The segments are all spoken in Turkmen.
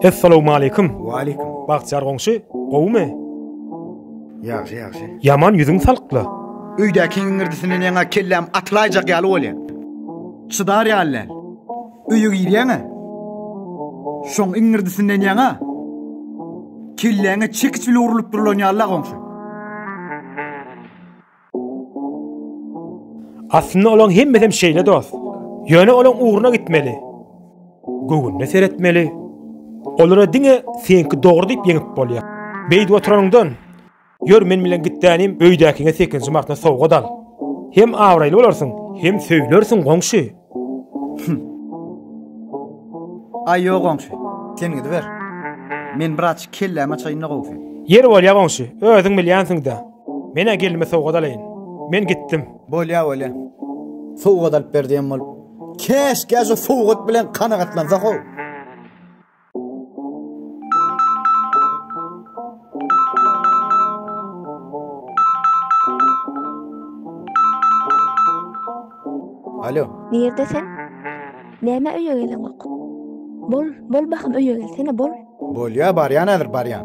Essalowmaleýkum! Waleýkum. Bagtyýar goňşy, gowumy? Ýagşy, ýagşy. Ýaman ýüzüň salykla. Öýdäkiň iňirdisinden ýaňa kelläm atylaýjak ýaly bolýar. Çydar ýaly däl. Öýe girýäň-ä. Şoň iňirdisinden ýaňa kelläňe çekiç bile urlup durlan ýaly-la goňşy. Aslynda olaň hemmesem şeýle dost. Ýöne olaň ugruna gitmeli. Göwnüne seretmeli. Olara diňe seňki dogry diýip ýeňip bolýar. Beýdip oturanyňdan, ýör men bilen gitdänim öýdäkiňe sekizinji martda sowgat al. Hem abraýly bolarsyň, hem söýülersiň goňşy. Aý ýok goňşy, sen gidiber. Men biraz kellämi açaýyn-da gowusy. Ýeri bolýa goňşy, özüň bilýänsiň-dä. Men-ä gelnime sowgat alaýyn. Men gitdim. Bolýa, bolýa. Sowgat alyp ber diýen bolup. Käşgä şu sowgat bilen kanagatlansak-ow. Alo. Nirde sen? Näme öýe geleňok? Bol, bol bahym öýe gelsene, bol. Bolýa, barýan häzir, barýan.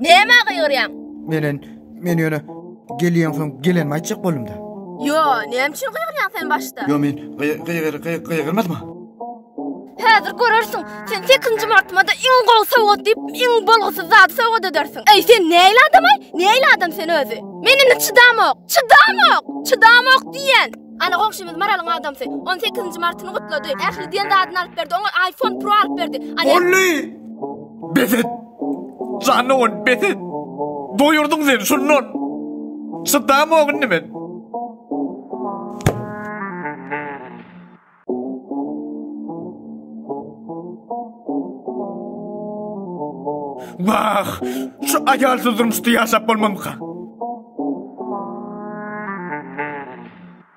Näme gygyrýaň? Menen, men ýöne gelýänsoň gelenimi aýtjak boldum-da. Ýo, näme üçin gygyrýaň sen başda? Ýo, men gygy-gygy-gygy-gygyrmadym-a. Häzir görersiň, sen sekinji martymada iň gowy sowgat diýip, iň bolgusyz zady sowgat edersiň. Äý, sen nähili adam-aý? Nähili adam sen özi? Men indi çydamok! Çydamok! Çydamok diýýän! Ana, goňşymyz Maralyň adamsy. Ony sekizinji martyny gutlady. Ähli diýen zadyny alyp berdi. Oňa iPhone Pro alyp berdi. Bolly! Bes et! Janowyn, bes et! Doýurdyň sen, şundan çydamok indi men. Wah, şu aýalsyz durmuşda ýaşap bolmazmyka?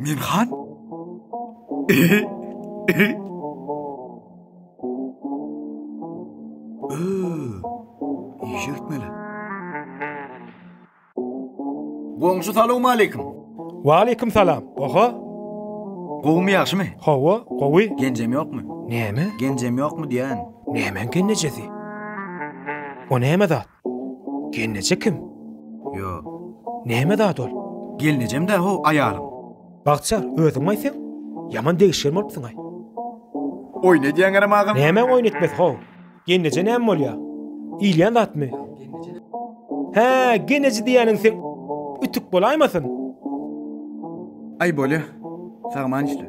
Men han? Goňşy salowmaleýkim. Waleýkim salam. Oho. Gowumy, ýagşymy? Hawa, gowy. Genjem ýokmy? Näme? Genjem ýokmy diýýän. Nämäň genejesi? O näme zat? Gelneje kim? Ýo. Näme zat ol? Gelnejem-dä how aýalym. Bagtyýar, özüňmi-aý seň? Ýaman degişgen bolupsyň-aý. Oýun edýäňerem agam? Nämäň oýun etmesi how? Gelneje näme bolýa? Iýilýän zatmy? Hä, gelneje diýýäniň seň ütük bolaýmasyn? Aý bolýa. Sagman işle.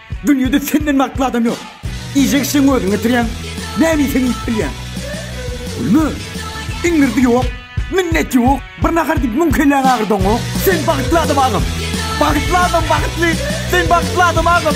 Dünýede senden bagtly adam ýok. Iýjek işleň özüň getirýäň. Näme iýseň iýip bilýäň. Gülme. Iňirdi ýok. Minnet ýok. Bir nahar diýip müň kelläňi agyrdaňok. Sen bagtly adam agam. Bagtly adam bagtly. Sen bagtly adam agam.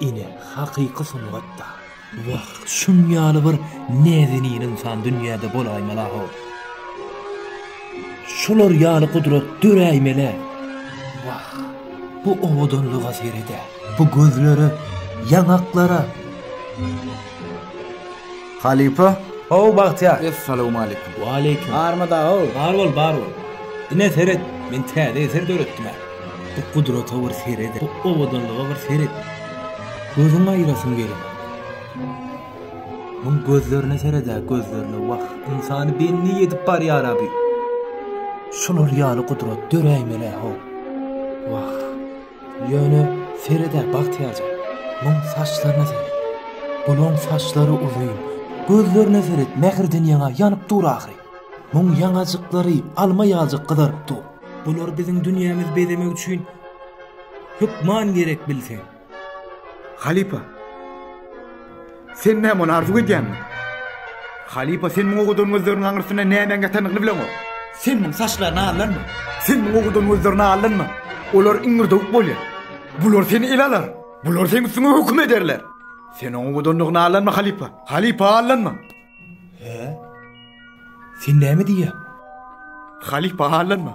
Ine, hakyky sungat-da, wah, şuň ýaly bir näzenin ynsan dünýäde bolaýmala-how! Şular ýaly gudrat döräýmel-ä! Wah, bu owadanlyga sered-ä! Bu gözlere, ýaňaklara! Halypa? Ho-w, Bagtyýar! Essalawmaleýkim! Waleýkim! Barmy dag-ow? Bar bol, bar bol! Ine, seret, men täze eser döretdim-ä. Bu gudrata bir seret-ä, bu owadanlyga bir seret! Gözüňi aýyrasyň geler. Muň gözlerine seret-ä, gözlerine! Wah, ynsany bendi edip barýar-a bu! Şular ýaly gudrat döräýmeli-ä, ho! Wah! Ýöne sered-ä, Bagtyýarja, muň saçlaryna seret. Bulaň saçlary uzyn. Gözlerine seret, mähirden ýaňa ýanyp dur ahyry. Muň ýaňajyklary alma ýaljyk gyzaryp dur. Bular biziň dünýämizi bezemek üçin hökman gerek, bilseň. Halypa! Sen näme ony arzuw edýäňmi? Halypa sen muňa owadan gözleriň aňyrsynda nämäň ýatandygyny bileňok. Sen muň saçlaryny allanma. Sen muňa owadan gözlerini allanma. Olar iňňirdewük bolýar. Bular seni ele alar. Bular seň üstüňe höküm ederler. Sen oň owadanlygyna allanma halypa. Halypa allanma. Hä? Sen näme diýýäň? Halypa allanma.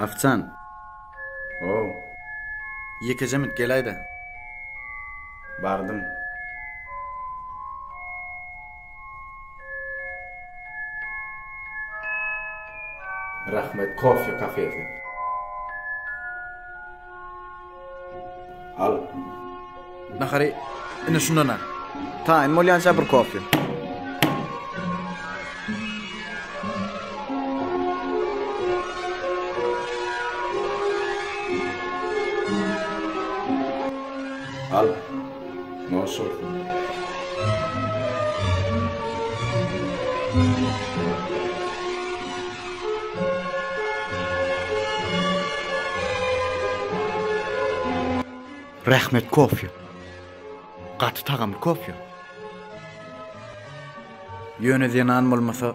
Afcan. Ow. Ýekejemit gelaýda. Bardym. Rahmet koffe kafesi. Al. Nahary indi şundan al. Taýyn bolýança bir koffe. Al. Rähmet kofýa. Gaty tagamly kofýa. Ýöne zenan bolmasa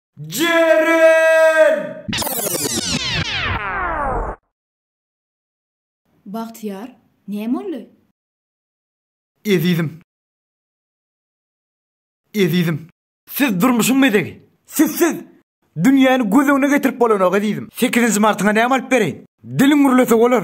Jeren! Bagtyýar, näme boldy? Ezizim! Ezizim! Siz durmuşyň bezegi! Sizsiz dünýäni göz öňüne getirip bolanok, ezizim! Sekizinji martyňa näme alyp bereýin? Diliň gürlese bolar!